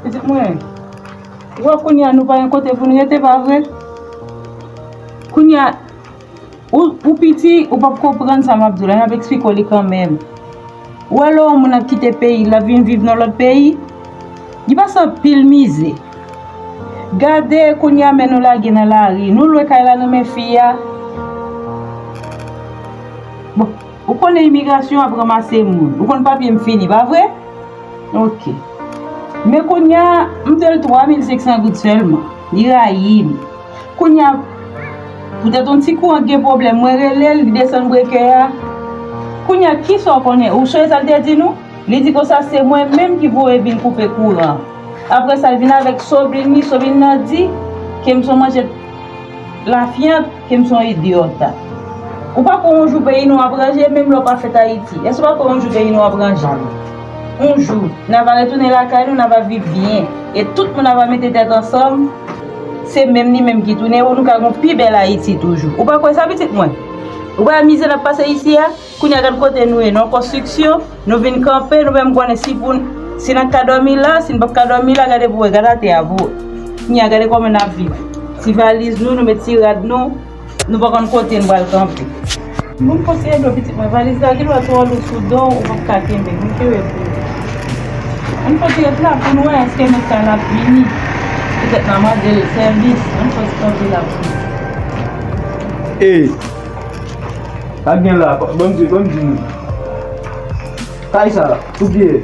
Pitit mwen, ou wè kounye a nou pa gen kote pou nou rete pa vre? Kounye a. Ou piti ou pap konprann sa map diw la map esplike w li kanmenm ou wè lè yon moun ap kite peyil lap vin viv nan lòt peyi li pase anpil mize gade kounye a men nou lage nan lari nou lwe kay la nan men fi a bon ou konnen imigrasyon ap ranmase moun ou konn papye m fini pa vre ok men kounye a m dwe l 3500 goud sèlman li rayim. Kounya poutèt yon ti kou an k gen pwoblèm mwen rele l li desann brekè a Kounya kisa w konnen ou sonje sa l te di nou Li di konsa se mwen menm ki voye vin koupe kouran an Apre sa l vin avèk soblin li soblin nan di ke m s on manjèt lafyant ke m s on idyòt Ou pa kwè yon jou peyi nou ap ranje menm lè w pa fèt Ayiti èske w pa kwè yon jou peyi nou ap ranje Yon jou n ava retounen lakay nou n ava viv byen e tout moun ava mete tèt ansanm Se menm li menm ki tounen ou nou ka gon pi bèl Ayiti toujou. Ou pa kwè sa pitit mwen? Ou pa wè mizè n ap pase isi a? Kounye a gad kote nou ye, nou an konstriksyon, nou vin kanpe, nou menm konnen si pou n, si n ap ka dòmi la, si n p ap ka dòmi la, gade pou wè, gad atè a pou wè. Kounye a gade kòman n ap viv. Ti valiz nou, nou met ti rad nou. Nou pa konn kote n pral kanpe. Moun konseye dlo pitit mwen. Valiz la gen dwa twò lou sou do w, ou pap ka kenbe l. Mwen te wè pou ou. Ann fòs ret la pou n wè èske mèt kay la ap vini. Petèt nan mande l sèvis. Ann fòs kanpe la pou nou. Ey! Sa gen la? Bon m di, bon m di nou. Kay sa, pou ki e?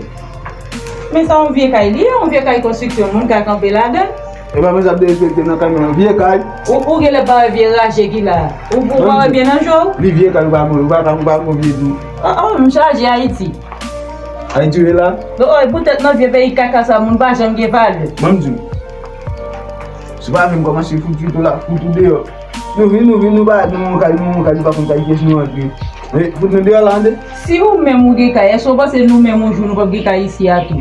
Men sa yon vye kay li ye. Yon vye kay konstriksyon. Moun ka kanpe ladan l. Epa mwen sa ap derespekte nan kay mwen nan vye kay. Ou genlè pa wè vye raje ki la. Ou pa wè byen nan je w. Li vye kay ou pa wè kay ou pa wè vye tou. Oh oh m chaje ayiti. Ayiti ou ye la. Oh oh e pou tèt nan vye peyi kaka sa moun pa janm gen valè. Banm di w. Se pa avè m kòmanse fout fout ou la fout ou deyò. Nou vin nou vin nou pa nou yon kay nou yon kay nou pa konn kay kiyès nou antre. Fout nou deyò la tande. Si ou menm ou gen kay èske w panse nou menm yon jou nou pap gen kay isi a tou.